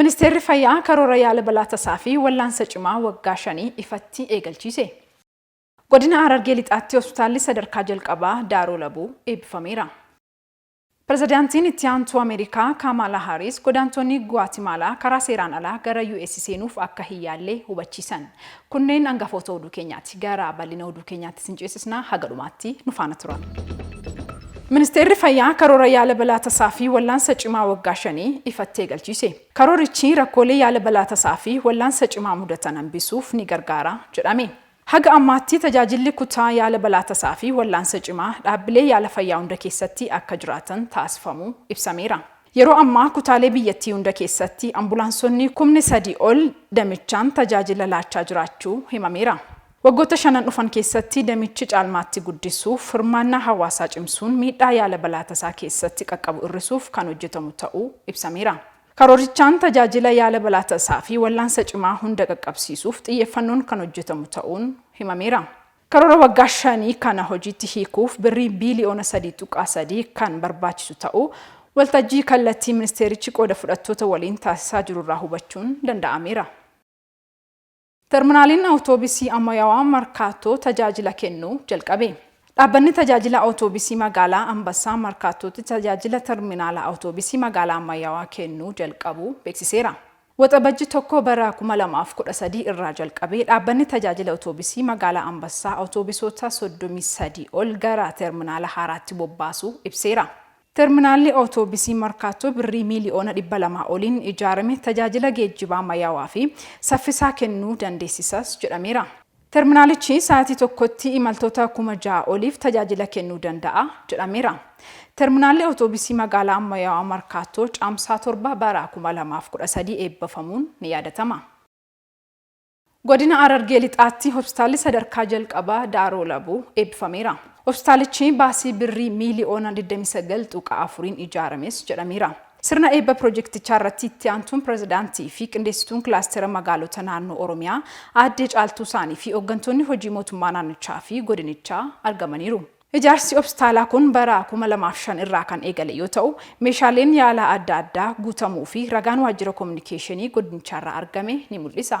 Ministeerri Fayyaa karoora yaala balaa tasaa fi wallaansa cimaa waggaa shanii ifatti eegalchiise. Godina Harargee Lixaatti Hospitaalli sadarkaa jalqabaa Daaroo Labuu eebbifameera. Pirezidaantiin Itti Aantuu Ameerikaa Kaamaalaa Haariis godaantonni Guwaatimaalaa karaa seeraan alaa gara US seenuuf akka hin yaalle hubachiisan. Kunneen angafoota oduu keenyaati. Gara bal'ina oduu keenyaatti isin ceesisna, haga dhumaatti nu faana tura. Ministeerri Fayyaa karoora yaala balaa tasaa fi wallaansa cimaa waggaa shanii ifattee galchiise. Karoorichi rakkoolee yaala balaa tasaa fi wallaansa cimaa mudatan hambisuuf ni gargaara jedhame. Haga ammaatti tajaajilli kutaa yaala balaa tasaa fi wallaansa cimaa dhaabbilee yaala fayyaa hunda keessatti akka jiraatan taasifamuu ibsameera. Yeroo ammaa kutaalee biyyattii hunda keessatti ambulaansonni kumni 3 ol damichaan tajaajila laachaa jiraachuu himameera. Waggoota shanan dhufan keessatti damichi caalmaatti guddisuuf, hirmaannaa hawaasaa cimsuun miidhaa yaala balaa tasaa keessatti qaqqabu irrisuuf kan hojjetamu ta'uu ibsameera. Karoorichaan tajaajila yaala balaa tasaafi wallaansa cimaa hunda qaqqabsiisuuf xiyyeeffannoon kan hojjetamu ta'uun himameera. Karoora waggaa shanii kana hojiitti hiikuuf Birrii biiliyoona 3.3 kan barbaachisu ta'uu waltajjii kallattii ministeerichi qooda fudhattoota waliin taasisaa jirurraa hubachuun danda'ameera. Terminaaliin Awutoobisii Ammayaawaa Markaattoo tajaajila kennuu jalqabe. Dhaabbanni Tajaajila Awutoobisii Magaalaa Anbassaa Markaattootti tajaajila Terminaala Awutoobisii Magaalaa Ammayyaawaa kennuu jalqabuu beeksiseera. Waxabajji 1 bara 2013 irraa jalqabee dhaabbanni tajaajila otoobisii magaalaa Ambassaa otoobisoota 33 ol gara terminaala haaraatti bobbaasuu ibseera. Terminaalli otoobisii Markaattoo birrii miiliyoona 200 oliin ijaarame tajaajila geejjibaa ammayyaawaa fi saffisaa kennuu dandeessisas jedhameera. Terminaalichi sa'aatii tokkotti imaltoota kuma ja'a oliif tajaajila kennuu danda'a jedhameera. Terminaalli Awutoobisii Magaalaa Ammayyaawaa Markaattoo Caamsaa torba bara kuma lamaa fi kudha sadii eebbafamuun ni yaadatama. Godina Harargee Lixaatti Hospitaalli Sadarkaa Jalqabaa Daaroo Labuu eebbifameera. Hospitaalichi baasii Birrii miiliyoona digdamii sagal tuqaa afuriin ijaarames jedhameera. Sirna eebba pirojektichaa irratti itti aantuun pirezidaantii fi qindeessituun kilaastera magaalota naannoo Oromiyaa aaddee Caaltuu Saanii fi hoggantoonni hojii mootummaa naannichaa fi godinichaa argamaniiru. Ijaarsi hopstaalaa kun bara 2005 irraa kan eegale yoo ta'u, meeshaaleen yaalaa adda addaa guutamuu fi ragaan waajjira kominikeeshinii godinichaarraa argame ni mul'isa.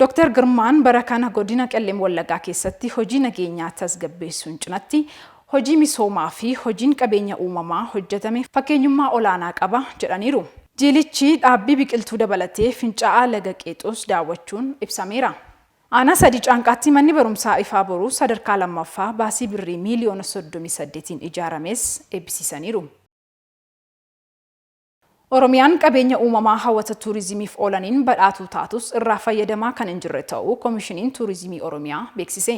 Doktar Girmaan bara kana Godina Qellem Wallaggaa keessatti hojii nageenyaa tasgabbeessuun cinatti hojii misoomaa fi hojiin qabeenya uumamaa hojjetame fakkeenyummaa olaanaa qaba jedhaniiru. Jiilichi dhaabbii biqiltuu dabalatee fincaa'aa laga Qeexoos daawwachuun ibsameera. Aanaa Sadii Caanqaatti manni barumsaa Ifaa Boruu sadarkaa 2ffaa baasii Birrii miiliyoona 38'n ijaarames eebbisiisaniiru. Oromiyaan qabeenya uumamaa hawata tuurizimiif oolaniin badhaatuu taatus irraa fayyadamaa kan hin jirre ta'uu Komishiniin Tuurizimii Oromiyaa beeksise.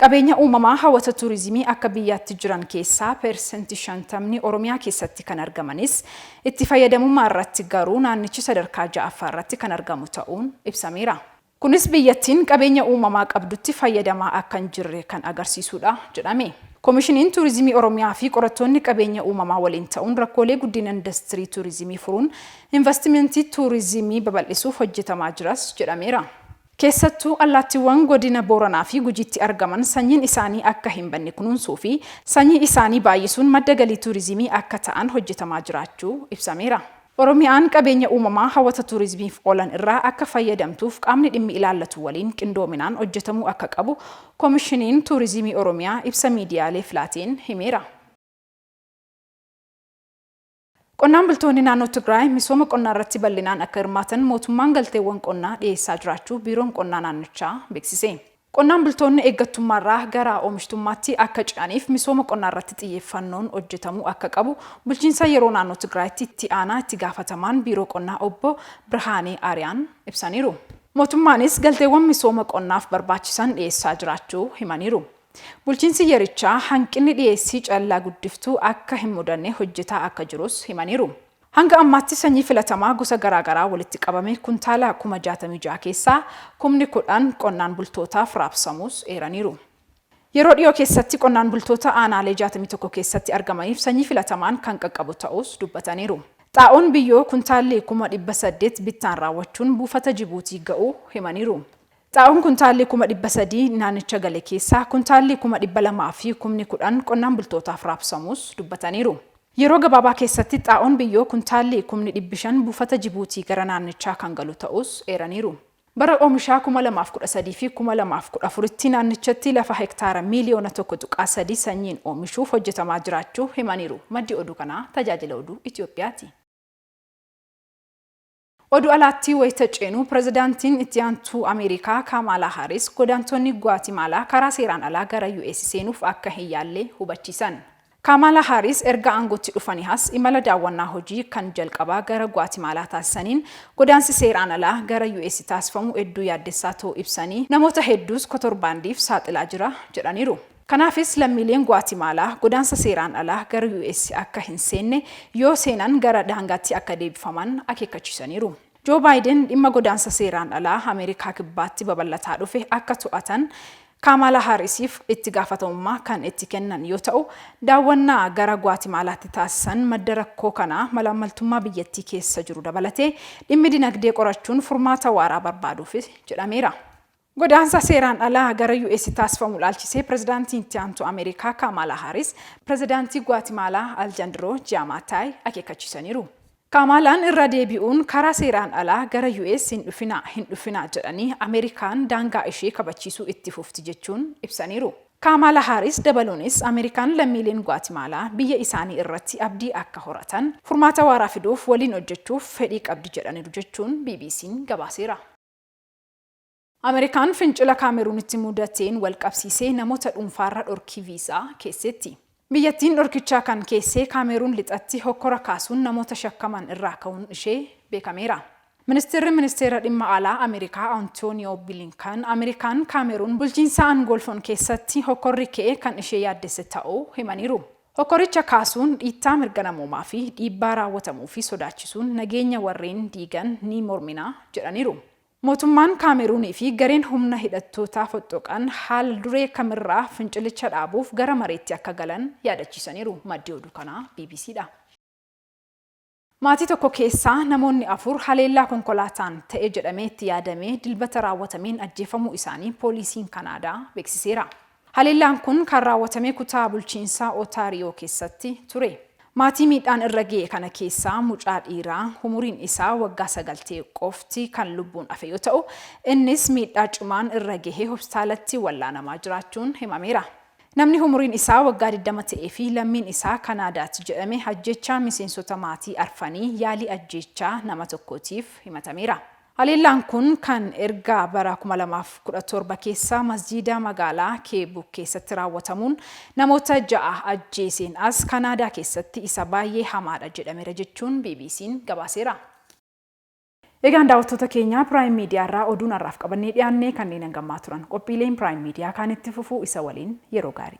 Qabeenya uumamaa hawata tuurizimii akka biyyaatti jiran keessaa persentii shantamni Oromiyaa keessatti kan argamanis itti fayyadamummaa irratti garuu naannichi sadarkaa 6ffaarratti kan argamu ta'uun ibsameera. Kunis biyyattiin qabeenya uumamaa qabdutti fayyadamaa akka hin jirre kan agarsiisuudha jedhame. Komishiniin Tuurizimii Oromiyaa fi qorattoonni qabeenya uumamaa waliin ta'uun rakkoolee guddina indastirii tuurizimii furuun invastimentii tuurizimii babal'isuuf hojjetamaa jiras jedhameera. Keessattuu allaattiiwwan godina Booranaa fi Gujiitti argaman sanyiin isaanii akka hin banne kunuunsuu fi sanyii isaanii baay'isuun madda galii tuurizimii akka ta'an hojjetamaa jiraachuu ibsameera. Oromiyaan qabeenya uumamaa hawata tuurizmiif oolan irraa akka fayyadamtuuf qaamni dhimmi ilaallatu waliin qindoominaan hojjetamuu akka qabu Komishiniin Tuurizimii Oromiyaa ibsa miidiyaaleef laateen himeera. Qonnaan bultoonni naannoo Tigraay misooma qonnaarratti bal'inaan akka hirmaatan mootummaan galteewwan qonnaa dhiyeessaa jiraachuu Biiroon Qonnaa naannichaa beeksise. Qonnaan bultoonni eeggattummaarraa gara oomishtummaatti akka ce'aniif misooma qonnaarratti xiyyeeffannoon hojjetamuu akka qabu Bulchiinsa Yeroo Naannoo Tigraayitti Itti Aanaa Itti Gaafatamaan Biiroo Qonnaa Obbo Birhaanee Aariyaan ibsaniiru. Mootummaanis galteewwan misooma qonnaaf barbaachisan dhiyeessaa jiraachuu himaniiru. Bulchiinsi yerichaa hanqinni dhiyeessii callaa guddiftuu akka hin mudanne hojjetaa akka jirus himaniiru. Hanga ammaatti sanyii filatamaa gosa garaa garaa walitti qabame kuntaala kuma 66 keessaa kumni 10 qonnaan bultootaaf raabsamuus eeraniiru. Yeroo dhiyoo keessatti qonnaan bultoota aanaalee 61 keessatti argamaniif sanyii filatamaan kan qaqqabu ta'uus dubbataniiru. Xaa'oon biyyoo kuntaalli kuma 800 bittaan raawwachuun buufata Jibuutii ga'uu himaniiru. Xaa'oon kuntaalli kuma 300 naannicha gale keessaa kuntaalli kuma 200 fi kumni 10 qonnaan bultootaaf raabsamuus dubbataniiru. Yeroo gabaabaa keessatti xaa'oon biyyoo kuntaalli kumni dhibbi 5 buufata Jibuutii gara naannichaa kan galu ta'uus eeraniiru. Bara oomishaa 2013 fi 2014tti naannichatti lafa hektaara miiliyoona 1.3 sanyiin oomishuuf hojjetamaa jiraachuu himaniiru. Maddi oduu kanaa Tajaajila Oduu Itiyoophiyaati. Oduu alaatti wayita ceenu Pirezidaantiin Itti Aantuu Ameerikaa Kaamaalaa Haaris godaantonni Guwaatimaalaa karaa seeraan alaa gara US seenuuf akka hin yaalle hubachiisan. Kaamaalaa Haaris erga aangootti dhufanii as imala daawwannaa hojii kan jalqabaa gara Guwaatimaalaa taasisaniin godaansi seeraan alaa gara US taasifamu hedduu yaaddessaa ta'uu ibsanii namoota hedduus kotorbaandiif saaxilaa jira jedhaniiru. Kanaafis lammiileen Guwaatimaalaa godaansa seeraan alaa gara US akka hin seenne, yoo seenan gara daangaatti akka deebifaman akeekkachiisaniiru. Joo Baayiden dhimma godaansa seeraan alaa Ameerikaa Kibbaatti babal'ataa dhufe akka to'atan Kaamaalaa Haarisiif itti gaafatamummaa kan itti kennan yoo ta'u, daawwannaa gara Guwaatimaalaatti taasisan madda rakkoo kanaa malaammaltummaa biyyattii keessa jiru dabalatee dhimmi dinagdee qorachuun furmaata waaraa barbaaduufi jedhameera. Godaansa seeraan alaa gara US taasifamu ilaalchisee Pirezidaantiin Itti Aantuu Ameerikaa Kaamaalaa Haaris Pirezidaantii Guwaatimaalaa Aljandroo Jiyaamaataay akeekkachiisaniiru. Kaamaalaan irra deebi'uun karaa seeraan alaa gara US hin dhufinaa, hin dhufinaa jedhanii Ameerikaan daangaa ishee kabachiisuu itti fufti jechuun ibsaniiru. Kaamaalaa Haaris dabaluunis Ameerikaan lammiileen Guwaatimaalaa biyya isaanii irratti abdii akka horatan, furmaata waaraa fiduuf waliin hojjechuuf fedhii qabdi jedhaniiru jechuun BBC'n gabaaseera. Ameerikaan fincila Kaameruunitti mudateen walqabsiisee namoota dhuunfaarra dhorkii viizaa keesseetti. Biyyattiin dhorkichaa kan keessee Kaameeruun lixatti hokkora kaasuun namoota shakkaman irraa ka'uun ishee beekameera. Ministirri Ministeera Dhimma Alaa Ameerikaa Antooniyoo Bilinkan Ameerikaan Kaameeruun bulchiinsa Angoolfoon keessatti hokkorri ka'e kan ishee yaaddesse ta'uu himaniiru. Hokkoricha kaasuun dhiittaa mirga namoomaa fi dhiibbaa raawwatamuufi sodaachisuun nageenya warreen diigan ni mormina jedhaniiru. Mootummaan Kaameruunii fi gareen humna hidhattootaa foxxoqan haal duree kam irraa fincilicha dhaabuuf gara mariitti akka galan yaadachiisaniiru. Maddi oduu kanaa bbc dha. Maatii tokko keessaa namoonni afur haleellaa konkolaataan ta'e jedhamee itti yaadamee Dilbata raawwatameen ajjeefamuu isaanii pooliisiin Kanaadaa beeksiseera. Haleellaan kun kan raawwatame kutaa bulchiinsa Otaariyoo keessatti ture. Maatii miidhaan irra ga'e kana keessaa mucaa dhiiraa umuriin isaa waggaa sagal ta'e qofti kan lubbuun hafe yoo ta'u, innis miidhaa cimaan irra gahee hospitaalatti wallaanamaa jiraachuun himameera. Namni umuriin isaa waggaa digdama ta'ee fi lammiin isaa Kanaadaati jedhame ajjeechaa miseensota maatii arfanii yaalii ajjeechaa nama tokkootiif himatameera. Haleellaan kun kan erga bara 2017 keessa masjiida magaalaa Keebuk keessatti raawwatamuun namoota ja'a ajjeeseen as Kanaadaa keessatti isa baayyee hamaadha jedhameera jechuun BBC'n gabaaseera. Egaan daawwattoota keenya Prime Media irraa oduun har'aaf qabannee dhiyaanne kanneen hanga ammaa turan. Qophiileen Prime Media kaan itti fufu isa waliin yeroo gaarii.